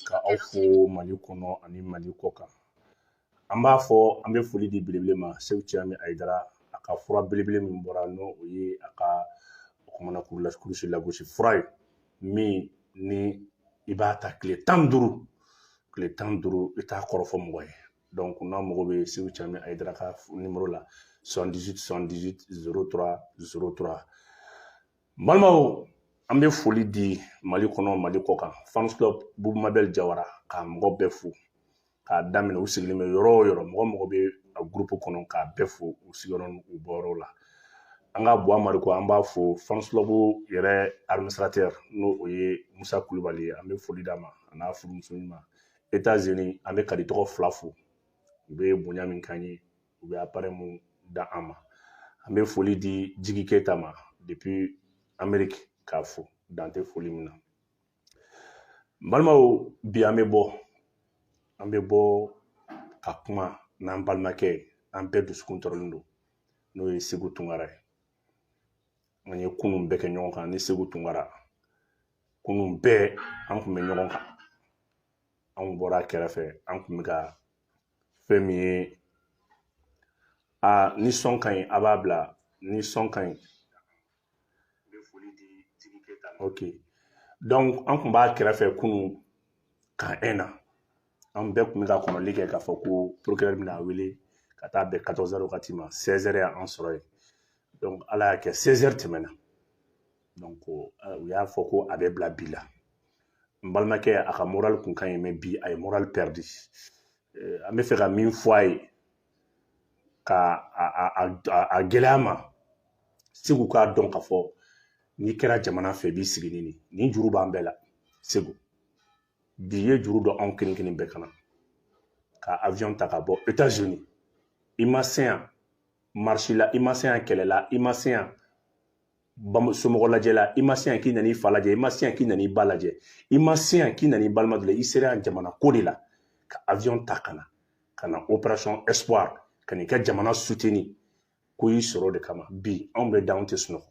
ka aw fo mali kɔnɔ ani mali kɔ kan an b'a fɔ an bɛ foli di belebele ma segu cɛmi ayidara a ka fura belebele min bɔra n'o o ye a ka kumana kurusi lagosi fura ye min ni i b'a ta tile tan ni duuru tile tan ni duuru i t'a kɔrɔfɔ mɔgɔ ye donc n'a mago bɛ segu cɛmi ayidara ka nimoro la 78 78 03 03 balimaw an bɛ foli di mali kɔnɔ mali kɔ kan fans club bubu mabɛl jawara k'a mɔgɔ bɛɛ fo k'a daminɛ u sigilen bɛ yɔrɔ o yɔrɔ mɔgɔ o mɔgɔ bɛ a gurupu kɔnɔ k'a bɛɛ fo u sigiyɔrɔ n'u bɔyɔrɔw la an ka buwa mariko an b'a fo fans club yɛrɛ administrateur n'o o ye musa kulubali ye an bɛ foli d'a ma a n'a furumuso ɲuman etats unis an bɛ kadi tɔgɔ fila fo u bɛ bonya min k'an ye u bɛ appareil min d'an ma an bɛ foli di jigi keyita ma depuis ameriki k'a fo dan tɛ foli min na balimaw bi an bɛ bɔ an bɛ bɔ ka kuma n'an balimakɛ ye an bɛɛ dusukun tɔɔrɔlen don n'o ye segu tunkara ye an ye kunun bɛɛ kɛ ɲɔgɔn kan ni segu tunkara kunun bɛɛ an tun bɛ ɲɔgɔn kan anw bɔra kɛrɛfɛ an tun bɛ ka fɛn min ye aa ni son ka ɲi a b'a bila ni son ka ɲi ok donc an tun b'a kɛrɛfɛ kunu ka un na an bɛɛ tun bɛ ka kɔnɔli kɛ k'a fɔ ko procureur bɛna a wele ka taa bɛn 14 heures wagati ma 16 heures y'an sɔrɔ yen donc ala y'a kɛ 16 heures tɛmɛna donc eh, u y'a fɔ ko a bɛ bila bi la n balimakɛ a ka moral kun ka ɲi mais bi a ye moral perdu eh, an b'a fɛ ka min fɔ a ye ka a gɛlɛya ma segu k'a dɔn k'a fɔ n'i kɛra jamana fɛ i b'i sigi ni nin nin juru b'an bɛɛ la segu bi i ye juru don anw kelen kelen bɛɛ kan na ka avion ta ka bɔ états unis i ma se yan marche la i ma se yan kɛlɛ la i ma se yan somɔgɔ lajɛ la i ma se yan k'i nana i fa lajɛ i ma se yan k'i nana i ba lajɛ i ma se yan k'i nana i balima dɔ la i sera yan jamana ko de la ka avion ta ka na ka na operation espoir ka n'i ka jamana soutenir ko y'i sɔrɔ de kama bi anw bɛ da anw tɛ sunɔgɔ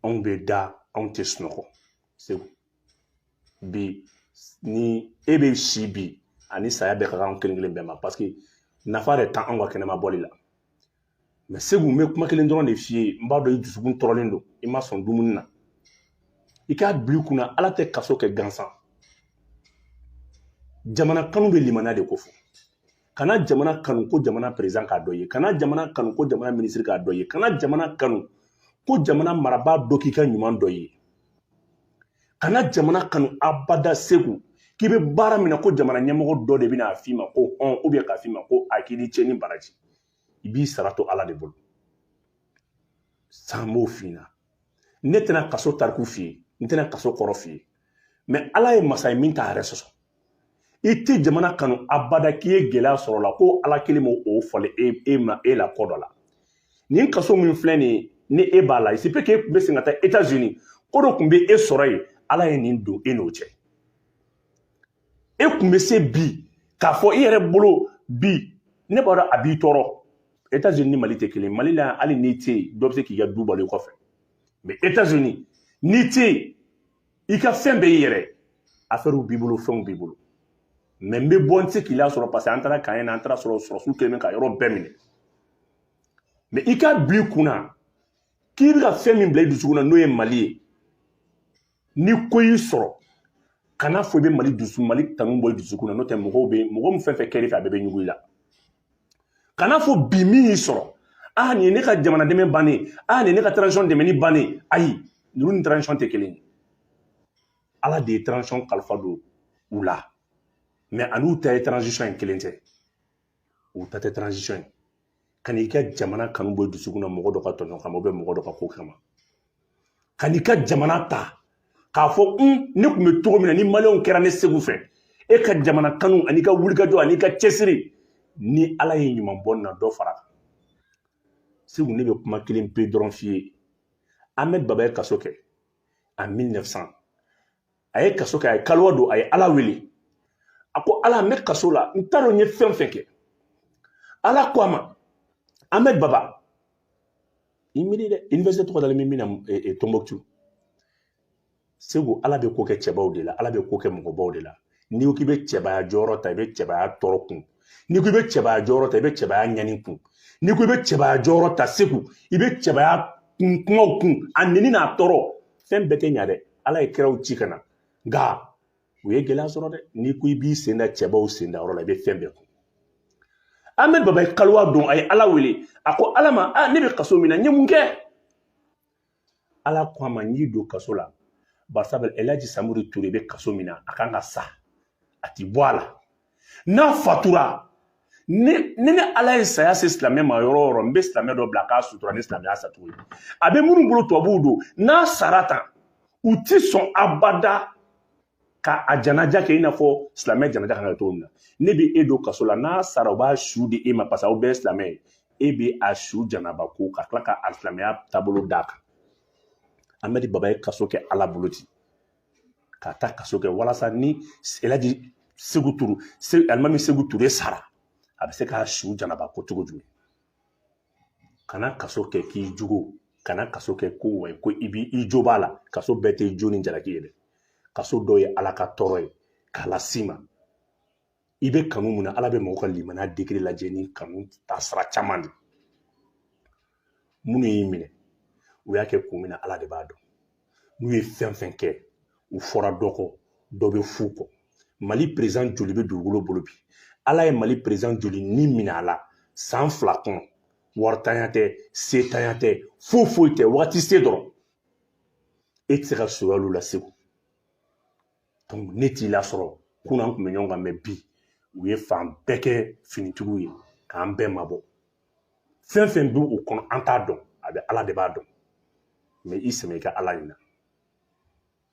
anw bɛ da anw tɛ sunɔgɔ segu bi ni e bɛ si bi ani saya bɛɛ ka kan kelen kelen bɛɛ ma parce que nafa yɛrɛ t'an anw ka kɛnɛma bɔli la mais segu n bɛ kuma kelen dɔrɔn de f'i ye n b'a dɔn i dusukun tɔɔrɔlen don i ma sɔn dumuni na i k'a bila i kunna ala tɛ kaso kɛ gansan jamana kanu bɛ limaniya de kofɔ kana jamana kanu ko jamana perezidan k'a dɔ ye kana jamana kanu ko jamana minisiri k'a dɔ ye kana jamana kanu ko jamana marabaa dɔ k'i ka ɲuman dɔ ye kana jamana kanu abada segu k'i bɛ baara min na ko jamana ɲɛmɔgɔ dɔ de bɛna a f'i ma ko hɔn ubiyɛn k'a f'i ma ko a k'i ni ce ni baraji i b'i sara to ala de bolo san b'o f'i na ne tɛna kaso tariku f'i ye n tɛna kaso kɔrɔ f'i ye mɛ ala ye masa ye min t'a yɛrɛ sɔsɔ i tɛ jamana kanu abada k'i ye gɛlɛya sɔrɔ la ko ala kelen b'o o falen e, e ma e la kɔ dɔ la nin kaso min filɛ nin ye ni e b'a la isipe k'e tun bɛ se ka taa etats unis ko dɔ tun bɛ e sɔrɔ yen ala ye nin don e n'o cɛ e tun bɛ se bi k'a fɔ i yɛrɛ bolo bi ne b'a dɔn a b'i tɔɔrɔ etats unis ni mali tɛ kelen mali la yan hali n'i tɛ yen dɔ bɛ se k'i ka du balo i kɔfɛ mɛ etats unis n'i tɛ yen i ka fɛn bɛɛ y'i yɛrɛ afɛriw b'i bolo fɛnw b'i bolo mɛ n bɛ bɔ n tɛ se k'i lasɔrɔ parce que an taara kan na an taar'a sɔrɔ sɔrɔdasiw kɛlen bɛ ka yɔrɔ bɛɛ minɛ mɛ i k'a bil'i kun na k'i bɛ ka fɛn min bila i dusukun na n'o ye mali ye ni ko y'i sɔrɔ kan'a fɔ i bɛ mali dusu mali kanu bɔ i dusukun na n'o tɛ mɔgɔw bɛ mɔgɔ min fɛn fɛn kɛr'i fɛ a bɛɛ bɛ ɲugun i la kan'a fɔ bi min y'i sɔrɔ ah nin ye ne ka jamana dɛmɛ bannen ah nin ye ne ka transition dɛmɛni bannen ayi ninnu ni transition tɛ kelen ye ala de ye transition kalifa don u la mɛ a n'u ta ye transition ye kelen tɛ u ta tɛ transition ye kan'i ka jamana kanu bɔ i dusukun na mɔgɔ dɔ ka tɔɲɔ kama ubiyɛn mɔgɔ dɔ ka ko kama kan'i ka jamana ta k'a fɔ n ne tun bɛ cogo min na ni maliyɛnw kɛra ne segu fɛ e ka jamana kanu an'i ka wulikajɔ an'i ka cɛsiri ni ala ye ɲuman bɔ n na dɔ far'a kan segu ne bɛ kuma kelen pe dɔrɔn f'i ye ahmed baba ye kaso kɛ a 1900 a ye kaso kɛ a ye kaluwa don a ye ala wele a ko ala n bɛ kaso la n t'a dɔn n ye fɛn fɛn kɛ ala ko a ma ahmed baba i miiri dɛ université tɔgɔ dalen bɛ min na eh, eh, tombouctou segu ala bɛ ko kɛ cɛbaw de la ala bɛ ko kɛ mɔgɔbaw de la n'i ko k'i bɛ cɛbaya jɔyɔrɔ ta i bɛ cɛbaya tɔɔrɔ kun n'i ko i bɛ cɛbaya jɔyɔrɔ ta i bɛ cɛbaya ɲani kun n'i ko i bɛ cɛbaya jɔyɔrɔ ta segu i bɛ cɛbaya kun kumaw kun a neni n'a tɔɔrɔ fɛn bɛɛ tɛ ɲa dɛ ala ye kiraw ci ka na nka u ye gɛlɛya sɔrɔ dɛ n'i ko i b'i sen da cɛbaw sen da yɔrɔ la i bɛ fɛn bɛɛ kun ahmed baba ye kaluwa don a ye ala wele a ko ala ma a ne bɛ kaso min na n ye mun kɛ ala ko a ma n y'i don kaso la barisa bɛ elaji samori ture bɛ kaso min na a kan ka sa a ti bɔ a la n'a fatura ni ni ne ala ye saya se silamɛ ma yɔrɔ o yɔrɔ n bɛ silamɛ dɔ bila k'a sutura ni silamɛya sacogo ye a bɛ minnu bolo tubabuw don n'a sara tan u ti sɔn abada ka a janaja kɛ i n'a fɔ silamɛ janaja kan ka cogo min na ne bɛ e don kaso la n'a sara u b'a su di e ma parce que aw bɛɛ ye silamɛ ye e bɛ a su janaba ko ka tila ka a silamɛya taabolo d'a kan amɛdi baba ye kaso kɛ ala bolo ten ka taa kaso kɛ walasa ni elaji segu ture alimami segu ture sara a bɛ se k'a su janaba ko cogo jumɛn kana kaso kɛ k'i jugo kana kaso kɛ ko wa ko i bi i jo b'a la kaso bɛɛ tɛ jo ni jalaki ye dɛ kaso dɔ ye ala ka tɔɔrɔ ye k'a las'i ma i bɛ kanu mun na ala bɛ mɔgɔ ka limaniya degere lajɛ ni kanu ta sira caman de minnu y'i minɛ u y'a kɛ kun min na ala de b'a dɔn n'u ye fɛn fɛn kɛ u fɔra dɔ kɔ dɔ bɛ f'u kɔ mali perezidan joli bɛ dugukolo bolo bi ala ye mali perezidan joli ni minɛ a la san fila kɔnɔ waritanya tɛ setanya tɛ foyi foyi tɛ wagati se dɔrɔn e tɛ se ka soya olu la segu ne t'i lasɔrɔ kunun an kun bɛ ɲɔgɔn kan mɛ bi u ye fan bɛɛ kɛ finitigiw ye k'an bɛɛ mabɔ fɛn fɛn bɛ u kɔnɔ an t'a dɔn a bɛ ala de b'a dɔn mɛ i sɛmɛ i ka ala in na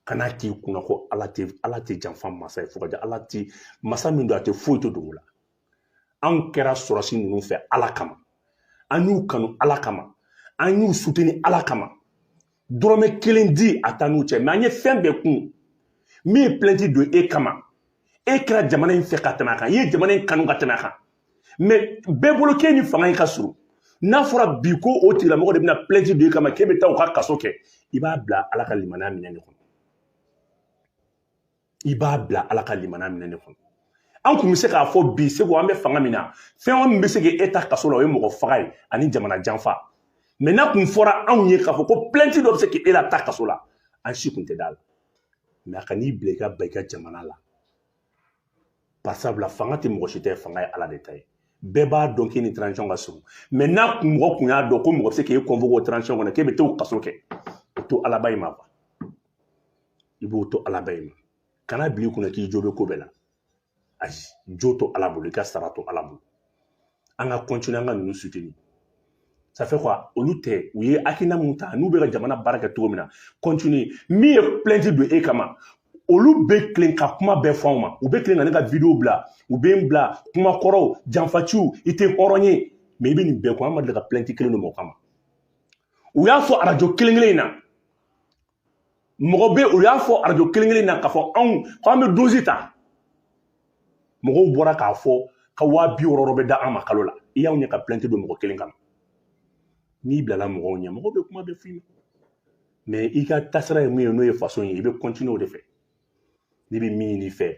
kana k'i kunna ko ala tɛ ala tɛ janfa masa ye fo ka ala tɛ masa min don a tɛ foyi tɛ dogo a la anw kɛra sɔrɔdasi ninnu fɛ ala kama an y'u kanu ala kama an y'u suteni ala kama dɔrɔmɛ kelen diya t'an n'u cɛ mɛ an ye fɛn bɛɛ kun min ye pilɛnti don e kama e kɛra jamana in fɛ ka tɛmɛ a kan i ye jamana in kanu ka tɛmɛ a kan mɛ bɛɛ bolo k'e ni fanga in ka surun n'a fɔra bi ko o tigilamɔgɔ de bɛna pilɛnti don e kama k'e bɛ taa u ka kaso kɛ i b'a bila ala ka limaniya minɛn in kɔnɔ i b'a bila ala ka limaniya minɛn in kɔnɔ an kun bɛ se k'a fɔ bi segu an bɛ fanga min na fɛn min bɛ se ka e ta kaso la o ye mɔgɔ faga ye ani jamana janfa mɛ n'a kun fɔra anw ye k'a fɔ ko plɛnti dɔ bɛ se ka e lataa kaso la an si kun tɛ d'a la mɛ a kan'i bila i ka ban i ka jamana la bari sabula fanga tɛ mɔgɔ si tɛ fanga ye ala de ta ye bɛɛ b'a dɔn k'i ni transition ka surun mɛ n'a kun mɔgɔ kun y'a dɔn ko mɔgɔ bɛ se k'e convoquer o transition kɔnɔ k'e bɛ t'o kaso kɛ o to alaba in ma kuwa i b'o to alaba in ma kana k'i kunna k'i jo bɛ ko bɛɛ la ayi jo to ala bolo i ka sara to ala bolo an ka kɔntini an ka ninnu suteni safe kuwa olu tɛ u ye hakilina mun ta n'u bɛ ka jamana baara kɛ cogo min na kɔntini min ye plɛnti don e kama olu bɛ tilen ka kuma bɛɛ fɔ anw ma u bɛ tilen ka ne ka vidiyo bila u bɛ n bila kuma kɔrɔw janfaciw i tɛ hɔrɔn ye mɛ i bɛ nin bɛɛ kɔ an ma deli ka plɛnti kelen don mɔgɔ kama u y'a fɔ arajo kelen kelen in na mɔgɔ bɛɛ u y'a fɔ arajo kelen kelen na k'a fɔ anw ko an bɛ dozi ta mɔgɔw bɔra k'a fɔ ko waa bi wɔɔrɔ bɛ d'an ma kalo la i y'anw ɲɛ ka plainte don mɔgɔ kelen kama n'i bilala mɔgɔw ɲɛ mɔgɔw bɛ kuma bɛɛ f'i ma mɛ i ka taasira ye mun ye n'o ye faso ye i bɛ kɔntiniye o de fɛ ne bɛ min ɲini i fɛ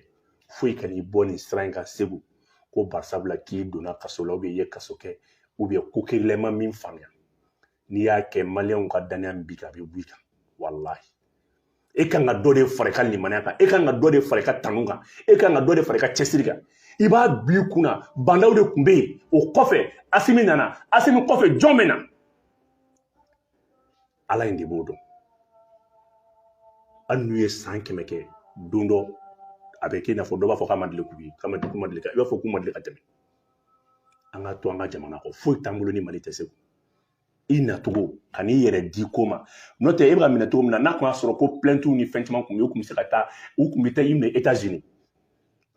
foyi kan'i bɔ nin sira in kan seku ko barisabula k'i donna kaso la ubiyɛn i ye kaso kɛ ubiyɛn ko kɛlɛma min faamuya n'i y'a kɛ maliyɛnw ka dannaya min b'i kan a bɛ b'i kan walahi e kan ka dɔ de fara i ka limaniya kan e kan ka dɔ de fara i ka tanu kan e kan ka dɔ de fara i ka cɛsiri kan i b'a bi kunun na ba ndaw de tun bɛ yen o kɔfɛ asimi nana asimi kɔfɛ jɔn bɛ na ala in de b'o dɔn hali n'u ye san kɛmɛ kɛ don dɔ a bɛ kɛ i n'a fɔ dɔ b'a fɔ k'a ma deli k'u ye k'a ma deli k'u ma deli ka i b'a fɔ k'u ma deli ka tɛmɛ an ka to an ka jamana kɔ foyi t'an bolo ni mali tɛ se i nacogo kan'i yɛrɛ di ko ma n'o tɛ e bɛ ka minɛ cogo min na n'a tun y'a sɔrɔ ko plaintiw ni fɛn caman tun bɛ yen u tun bɛ se ka taa u tun bɛ taa i minɛ etats unis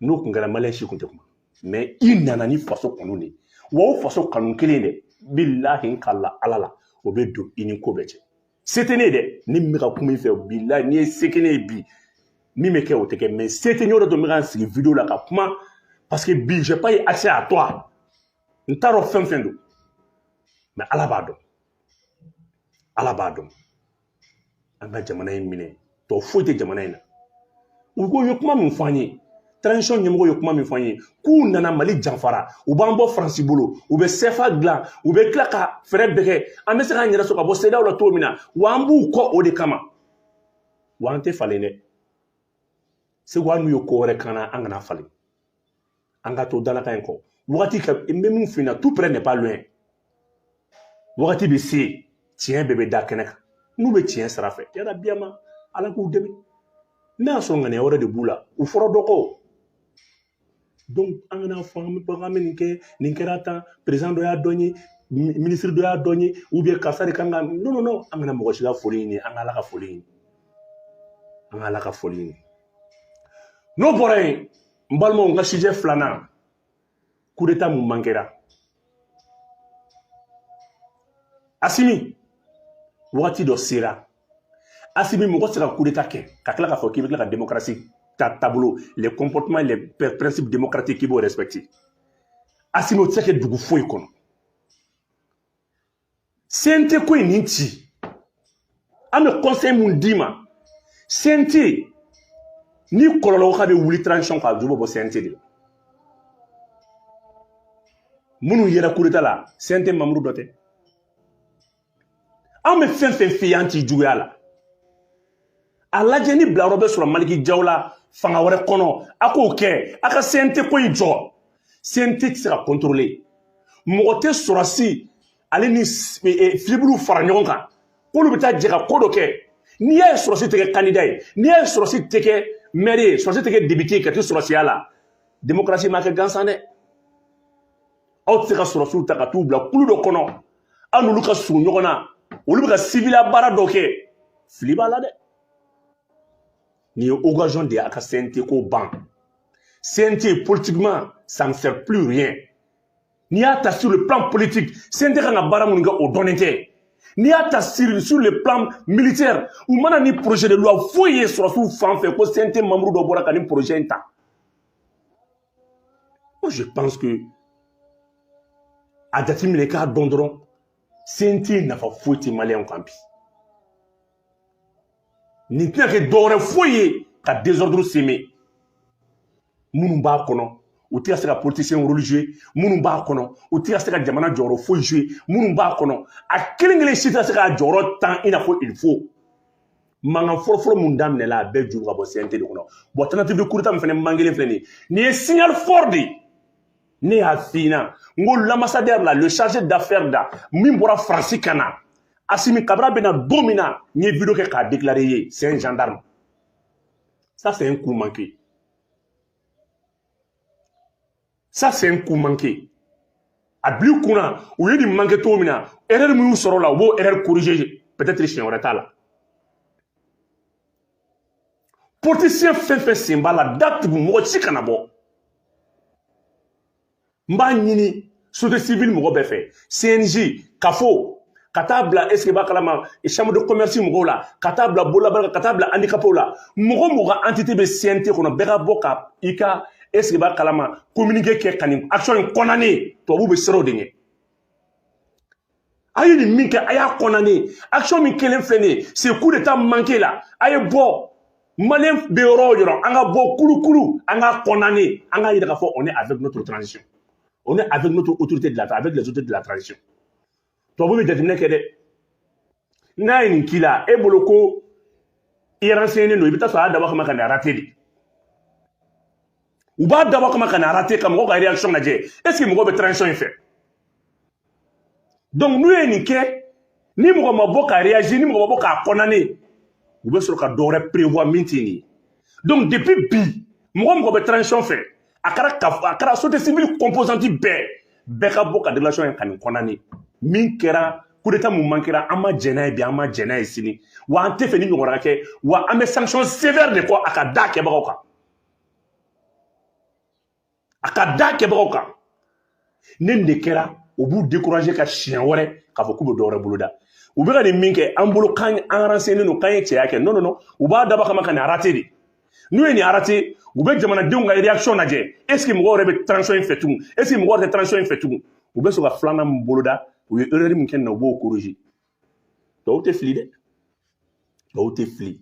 n'o tun kɛra maliyɛn si tun tɛ kuma mɛ i nana ni faso kanu de ye wa o faso kanu kelen dɛ bilahi n ka la ala la o bɛ don i ni ko bɛɛ cɛ se tɛ ne ye dɛ ne min bɛ ka kuma i fɛ bilahi n'i ye se kɛ ne ye bi min bɛ kɛ o tɛ kɛ mɛ se tɛ n y'o de to n bɛ ka n sigi video la ka kuma parce que bi j'ai pas eu accès à toi n t'a dɔn fɛn fɛn don mɛ ala b'a dɔn ala b'a dɔn an ka jamana in minɛ tɔ foyi tɛ jamana in na u ko ye kuma min fɔ an ye transition ɲɛmɔgɔ ye kuma min fɔ an ye k'u nana mali janfara u b'an bɔ faransi bolo u bɛ sefa dilan u bɛ tila ka fɛɛrɛ bɛɛ kɛ an bɛ se k'an yɛrɛ sɔrɔ ka bɔ sedaw la cogo min na wa an b'u kɔ o de kama wa an tɛ falen dɛ seku an n'u ye ko wɛrɛ k'an na an kana falen an ka to dalakan in kɔ wagati ka n bɛ min f'i ɲɛna tout près n'est pas loin wagati bɛ se tiɲɛ bɛɛ bɛ da kɛnɛ kan n'u bɛ tiɲɛ sira fɛ yala biyama ala k'u dɛmɛ n'a y'a sɔrɔ ŋaniya wɛrɛ de b'u la u fɔra dɔ kɔ donc an kana fɔ an bɛ bagan an bɛ nin kɛ nin kɛra tan perezidan dɔ y'a dɔgɔya minisiri dɔ y'a dɔgɔya u bɛ karisa de kan ka non non non an kana mɔgɔ si ka foli ɲini an ka ala ka foli ɲini an ka ala ka foli ɲini n'o bɔra yen n balimaw n ka sujet filanan kudeta mun man kɛra asimi wagati dɔ sera asimi mɔgɔ tɛ se ka kudeta kɛ ka tila k'a fɔ k'i bɛ tila ka demokarasi ta taabolo les comportements les principes démocratiques k'i b'o respecter asimi o tɛ se ka kɛ dugu foyi kɔnɔ CNT ko in nin ci an bɛ conseil mun d'i ma CNT ni kɔlɔlɔ ko k'a bɛ wuli transition kan a ju bɛ bɔ CNT de la minnu yera kudeta la CNT membre dɔ tɛ an bɛ fɛn fɛn f'i ye an t'i juguya la a lajɛ ni bilayɔrɔ bɛ sɔrɔ maliki jaw la fanga wɛrɛ kɔnɔ a k'o kɛ a ka CNT ko in jɔ CNT tɛ se ka contrôler mɔgɔ tɛ sɔrɔsi ale ni e, e, filibuluw fara ɲɔgɔn kan k'olu bɛ taa jɛ ka ko dɔ kɛ n'i y'a ye sɔrɔsi tɛ kɛ kandida ye n'i y'a ye sɔrɔsi tɛ kɛ mɛri ye sɔrɔsi tɛ kɛ depite ye ka to sɔrɔsiya la demokarasi ma kɛ gansan dɛ aw tɛ se ka sɔrɔsiw ta ka t'u bila kulu dɔ kɔnɔ aw n'olu ka surun ɲɔgɔn na olu bɛ ka siviliya baara dɔ kɛ fili b'a la dɛ nin ye occasion de ye a ka CNT ko ban CNT politiquement ça ne sert plus rien n'i y'a ta sur le plan politique CNT kan ka baara minnu kɛ o dɔnnen tɛ n'i y'a ta sur, sur le plan militaire u ma na ni projet de loi foyi ye sɔrɔsiw fan fɛ ko CNT membre dɔ bɔra ka nin projet in ta Moi, je pense que a jateminɛ k'a dɔn dɔrɔn CNT nafa foyi tɛ maliyɛnw kan bi nin tɛna kɛ dɔwɛrɛ foyi ye ka désordre semer minnu b'a kɔnɔ u tɛ ka se ka politisiyɛn rôle jouer minnu b'a kɔnɔ u tɛ ka se ka jamana jɔyɔrɔ foyi jouer minnu b'a kɔnɔ a kelen kelen si tɛ ka se k'a jɔyɔrɔ ta i n'a fɔ il faut mankan fɔlɔfɔlɔ mun daminɛla a bɛɛ juru ka bɔ CNT de kɔnɔ bon tentative de kudeta min fana mankelen filɛ nin ye nin ye signal fort de ye ne y'a f'i ɲɛna n ko l'ambassadeur la le chargé d'affaires là min bɔra faransi ka na asimi ka bara bɛna don min na n ye video kɛ k'a déclarer ye c'est un gendarme ça c'est un coup manqué ça c'est un coup manqué a bil'i kun na u ye nin manqué cogo min na erreur min y'u sɔrɔ o la u b'o erreur corriger peut-être siɲɛ wɛrɛ ta la politicien fɛn fɛn sen b'a la datugu mɔgɔ si kana bɔ n b'a ɲini société civile mɔgɔ bɛɛ fɛ CNJ CAFO ka taa bila est ce que b'a kalama chambre de commerce mɔgɔw la ka taa bila bolabaara ka taa bila handicapw la mɔgɔ mɔgɔ ka entité bɛ CNT kɔnɔ bɛɛ ka bɔ ka i ka est ce que b'a kalama communiqué kɛ ka nin action in condamner tubabuw bɛ siran o de ɲɛ a ye nin min kɛ a y'a condamner action min kɛlen filɛ nin ye c'est coup d'état manqué la a ye bɔ maliyɛn bɛ yɔrɔ o yɔrɔ an ka bɔ kulukulu an k'a condamner an k'a yira k'a fɔ on est avec notre transition on est avec notre autorité de la avec les autorités de la transition tubabu bɛ jateminɛ kɛ dɛ n'a ye nin k'i la e bolo ko i renseignen don i bɛ taa sɔrɔ a y'a dabɔ kama ka nin rater de u b'a dabɔ kama ka nin rater ka mɔgɔw ka réaction lajɛ est ce que mɔgɔw bɛ transition in fɛ donc n'u ye nin kɛ ni mɔgɔ ma bɔ ka réagir ni mɔgɔ ma bɔ k'a condamner u bɛ sɔrɔ ka dɔ wɛrɛ prévoir min tɛ nin ye donc depuis bi mɔgɔ o mɔgɔ bɛ transition fɛ a kɛra ka a kɛra société civile composante bɛɛ bɛɛ ka bɔ ka déclaration kɛ ka nin condamner min kɛra coup d'état min manquéra an ma jɛn n'a ye bi an ma jɛn n'a ye sini wa an t'a fɛ nin ɲɔgɔnna ka kɛ wa an bɛ sanction sévère de kɔ a ka da kɛbagaw kan a ka da kɛbagaw kan ni nin de kɛra o b'u décourager ka siɲɛ wɛrɛ k'a fɔ k'u bɛ dɔ wɛrɛ boloda u bɛ ka nin min kɛ an bolo k'an renseignenen don k'an ye cɛya kɛ non non non u b'a dabɔ kama ka nin rater de n'u ye nin rater u bɛ jamanadenw ka réaction lajɛ est ce que mɔgɔw yɛrɛ bɛ transition in fɛ tugun est ce que mɔgɔw tɛ transition in fɛ tugun u bɛ sɔrɔ ka filanan min boloda u ye erreur min kɛ nin na u b'o corriger tɔw tɛ fili dɛ tɔw tɛ fili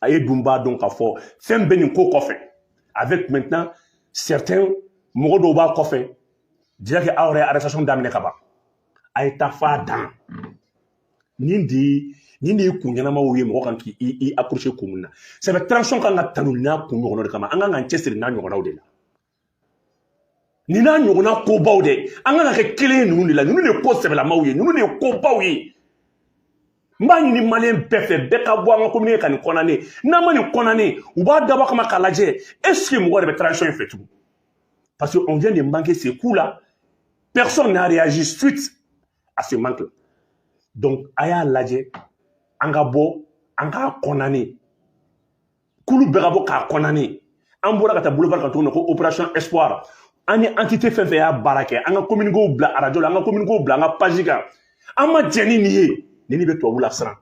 a yɛrɛ dun b'a dɔn k'a fɔ fɛn bɛ nin ko kɔfɛ avec maintenant certains mɔgɔ dɔw b'a kɔfɛ déjà que aw yɛrɛ arrestation daminɛ ka ban a ye taa f'a dan nin de ye nin de ye kun ɲɛnamaw ye mɔgɔ kan k'i accrocher kun min na sabu transition ka kan ka tanu n'a kun ɲɔgɔnnaw de kama an ka kan k'an cɛsiri n'a ɲɔgɔnnaw de la nin n'a ɲɔgɔnna kobaw dɛ an kan ka kɛ kelen ye ninnu de la ninnu de ye ko sɛbɛlamaw ye ninnu de ye kobaw ye n b'a ɲini maliyɛn bɛɛ fɛ bɛɛ ka bɔ an ka communiquer ka nin condamner n'an ma nin condamner u b'a dabɔ kama k'a lajɛ est ce que mɔgɔ yɛrɛ bɛ transition in fɛ tugun parce que on vient de manquer ce coup là personne n'a réagi suite à ce manque là donc a y'a lajɛ an ka bɔ an k'a condamner kulu bɛɛ ka bɔ k'a condamner an bɔra ka taa boulevard kan tuguni ko opération espoir an ni entité fɛn o fɛn y'a baara kɛ an ka communiquéw bila arajo la an ka communiquéw bila an ka page kan an ma jɛn ni nin ye nin de bɛ tubabu lasiran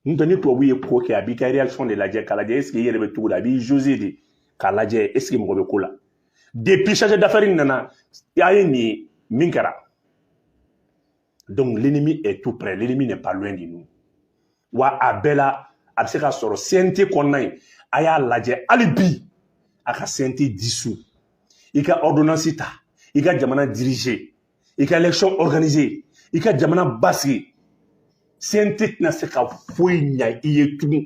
n'o tɛ ni tubabu ye ko kɛ a b'i ka réaction de lajɛ k'a lajɛ est ce que i yɛrɛ bɛ cogo di a b'i jauger de k'a lajɛ est ce que mɔgɔ bɛ ko la depuis chargé d'affaires in nana a ye nin ye min kɛra donc l'ennemi est tout près l'ennemi n'est pas loin de nous wa a bɛɛ la a bɛ se ka sɔrɔ CNT kɔnɔna yen a y'a lajɛ hali bi a ka CNT dissous i ka ordonnance ta i ka jamana diriger i ka élection organiser i ka jamana basigi CNT tɛna se ka foyi ɲa i ye tugun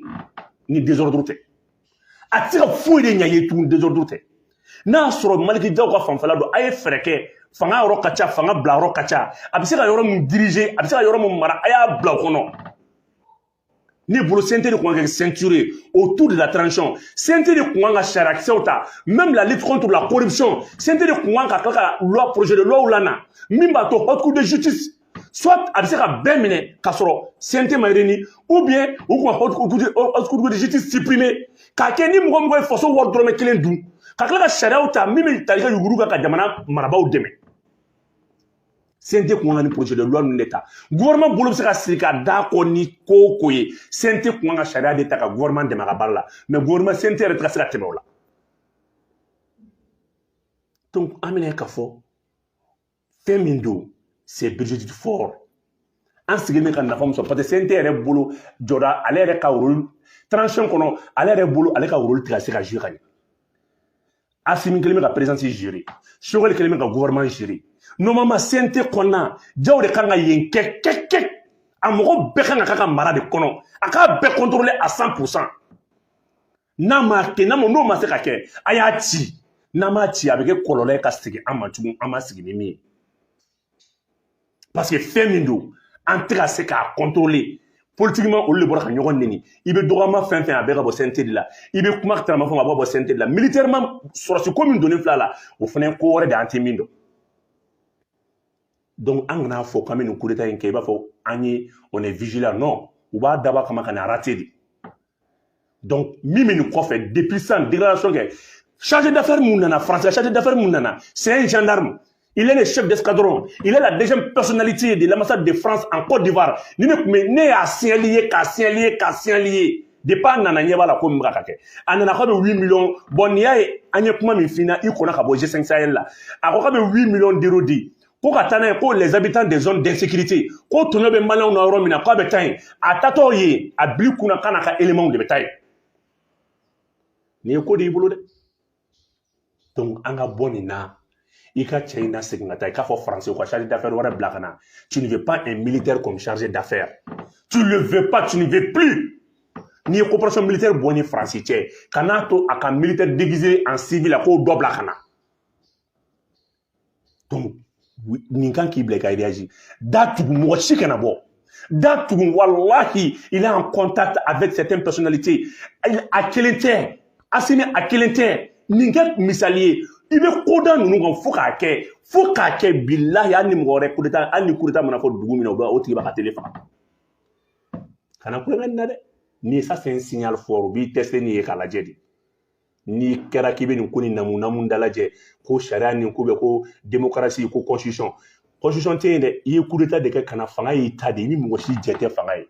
ni désordre tɛ a tɛ se ka foyi de ɲɛ i ye tugun désordre tɛ n'a y'a sɔrɔ Malick Diaw ka fanfɛla don a ye fɛɛrɛ kɛ fanga yɔrɔ ka ca fanga bila yɔrɔ ka ca a bɛ se ka yɔrɔ min diriger a bɛ se ka yɔrɔ min mara a y'a bila o kɔnɔ ne bolo CNT de kun ka kɛ ceinture ye autour de la transition CNT de kun kan ka sariyakisɛw ta même la lutte contre la corruption CNT de kun kan ka tila ka loi projet de loi lana min b'a to haute cour de justice soit a bɛ se ka bɛɛ minɛ k'a sɔrɔ CNT ma réuni ou bien u tun ka Haute Cour de justice supprimer k'a kɛ ni mɔgɔ o mɔgɔ ye faso wari dɔrɔmɛ kelen dun ka tila ka sariyaw ta min bɛ tali kɛ yurugu kan ka jamana marabaaw dɛmɛ CNT kun kan ka nin projet de loi ninnu de ta gouvernement bolo bɛ se ka siri ka da kɔ ni ko o ko ye CNT kun kan ka sariya de ta ka gouvernement dɛmɛ a ka baara la mais gouvernement CNT yɛrɛ tɛ ka se ka tɛmɛ o la donc an bɛna ye k'a fɔ fɛn min don c'est budgétivore an sigilen bɛ ka nafa min sɔrɔ parce que CNT yɛrɛ bolo jɔda ale yɛrɛ ka rôle transition kɔnɔ ale yɛrɛ bolo ale ka rôle tɛ ka se ka jouer ka ɲɛ Asimi kelen bɛ ka présidence gérer Sogɛli kelen bɛ ka gouvernement gérer normalement CNT kɔnɔna Jaw de kan ka yen kɛ kɛ kɛ a mɔgɔ bɛɛ kan ka k'a ka mara de kɔnɔ a k'a bɛɛ contrôler à 100 pour cent n'a ma kɛ n'a ma n'o ma se ka kɛ a y'a ci n'a ma ci a bɛ kɛ kɔlɔlɔ ye ka segin an ma tugun an ma sigi ni min ye parce que fɛn min don an tɛ ka se k'a contrôler politiquement olu de bɔra ka ɲɔgɔn neni i bɛ dɔgɔma fɛn o fɛn a bɛɛ ka bɔ CNT de la i bɛ kuma tarama fɛn a b'a bɔ CNT de la militairement sɔrɔdasi ko min donnen fila la o fana ye ko wɛrɛ de an tɛ min dɔn donc an kana fɔ k'an bɛ nin coup d'état in kɛ i b'a fɔ an ye on est vigilant non u b'a dabɔ a kama ka na rater de donc min bɛ nin kɔfɛ depuis sisan déclaration kɛ chargé d'affaires min nana France ka chargé d'affaires min nana c'est un gendarme il est le chef d'escadron il est la deuxième personnalité de l'ambassade de France en Côte d'Ivoire ni ne tun bɛ ne y'a signaler i ye k'a signaler i ye k'a signaler i ye depuis a nana ɲɛ b'a la ko min bɛ ka kɛ a nana k'a bɛ 8 millions bɔn n'i y'a ye an ye kuma min f'i ɲɛna i kɔnna ka bɔ G5 Sahel la a ko k'a bɛ 8 millions d'euros di ko ka taa n'a ye ko les habitants des zones d'insécurité ko tɔɔrɔ bɛ maliyɛnw na yɔrɔ min na k'a bɛ taa yen a taatɔ yen a b'i kunna k'a n'a ka éléments de bɛ taa yen nin ye ko de y'i bolo dɛ donc an ka bɔ nin na i ka cɛ in na segin ka taa i k'a fɔ faransi u ka chargé d'affaires wɛrɛ bila ka na tu ne veux pas un militaire comme chargé d'affaires tu ne veux pas tu ne veux plus n'i ye coopération militaire bɔ ni faransi cɛ kan'a to a ka militaire déguisé en civil a k'o dɔ bila ka na donc nin kan k'i bila i ka réagir da tugu mɔgɔ si kana bɔ da tugu walahi il est en contact avec certaines personnalités a kelen tɛ Asimi a kelen tɛ nin kɛ misali ye i bɛ ko da ninnu kan fo k'a kɛ fo k'a kɛ bilahi hali ni mɔgɔ wɛrɛ kudeta hali ni kudeta mana fɔ dugu min na o b'a o tigi b'a ka tele faga kana tulonkɛ nin na dɛ ni ça c'est un signal fort u b'i tester nin ye k'a lajɛ de n'i kɛra k'i bɛ nin ko ni namu namu dalajɛ ko sariya nin ko bɛ ko demokarasi ko constitution constitution tɛ yen dɛ i ye kudeta de kɛ ka na fanga y'i ta de ye ni mɔgɔ si jɛ tɛ fanga ye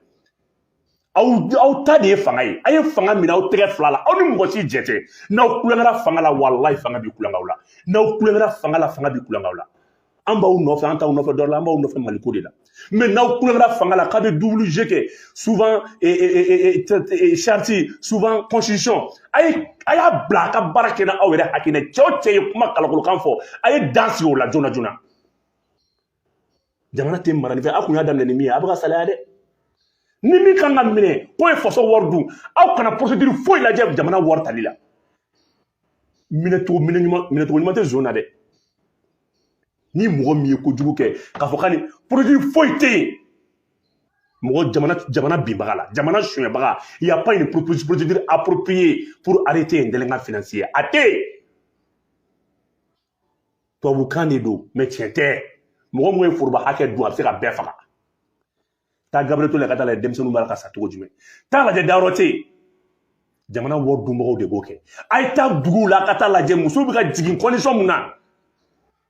aw aw ta de ye fanga ye a ye fanga minɛ aw tɛgɛ fila la aw ni mɔgɔ si jɛ tɛ n'aw tulonkɛra fanga la walayi fanga bɛ tulonkɛ aw la n'aw tulonkɛra fanga la fanga bɛ tulonkɛ aw la an b'aw nɔfɛ an t'aw nɔfɛ dɔwɛrɛ la an b'aw nɔfɛ maliko de la mɛ n'aw kulobara fanga la k'a bɛ double jeu kɛ souvent charte souvent constitution a ye a y'a bila a ka baara kɛ n'aw yɛrɛ hakilina cɛ o cɛ ye kuma kalakolokan fɔ a ye dan sigi o la joona joona jamana tɛ mara ni fɛ aw kun y'a daminɛ ni min ye a bɛ ka salaya dɛ ni min ka kan ka minɛ k'o ye faso wari dun aw kana procédure foyi lajɛ jamana wari tali la minɛcogo minɛ ɲuman minɛcogo ɲuman tɛ zon na dɛ ni mɔgɔ min ye kojugu kɛ k'a fɔ ka ni procédure foyi tɛ yen mɔgɔ jamana jamana binbaga la jamana sonyɛbaga il y a pas une procédure appropriée pour arrêter un délinquant financier a tɛ yen tubabukan de don mɛ tiɲɛ tɛ mɔgɔ min ye foroba hakɛ dun a bɛ se ka bɛɛ faga taa gabriel touré la ka taa lajɛ denmisɛnninw b'a la ka sa cogo jumɛn taa lajɛ dayɔrɔ tɛ yen jamana wari dunbagaw de b'o kɛ a ye taa duguw la ka taa lajɛ musow bɛ ka jigin condition mun na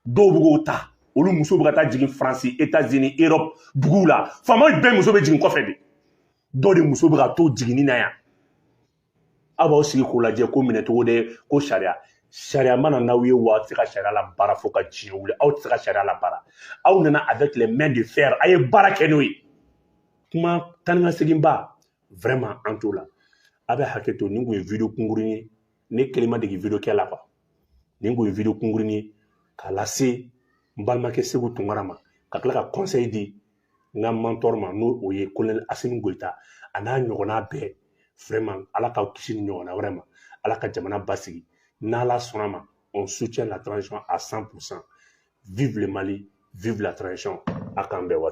dɔw bɛ k'o ta olu musow bɛ ka taa jigin faransi etazini erɔp duguw la faamaw bɛɛ muso bɛ jigin kɔfɛ de dɔw de muso bɛ ka to jiginni na yan aw b'aw sigi k'o lajɛ ko minɛcogo de ko sariya sariya ma na n'aw ye wa aw tɛ se ka sariya labaara fo ka diɲɛ wuli aw tɛ se ka sariya labaara aw nana avec les mains de fer a ye baara kɛ n'o ye kuma taa ni ka segin ba vraiment an t'o la a bɛ hakɛ to nin kun ye video kunkuruni ye ne kelen ma dege video kɛ la quoi nin kun ye video kunkuruni ye k'a lase n balimakɛ seku tunkara ma ka tila ka conseil di n ka mentor ma n'o ye kolonɛli asimi goyita a n'a ɲɔgɔnna bɛɛ vraiment ala k'an kisi ni ɲɔgɔnna wɛrɛ ma ala ka jamana basigi n'ala sɔnna ma on soutient la transition à 100 pour cent vive le mali vive la transition a k'an bɛn wari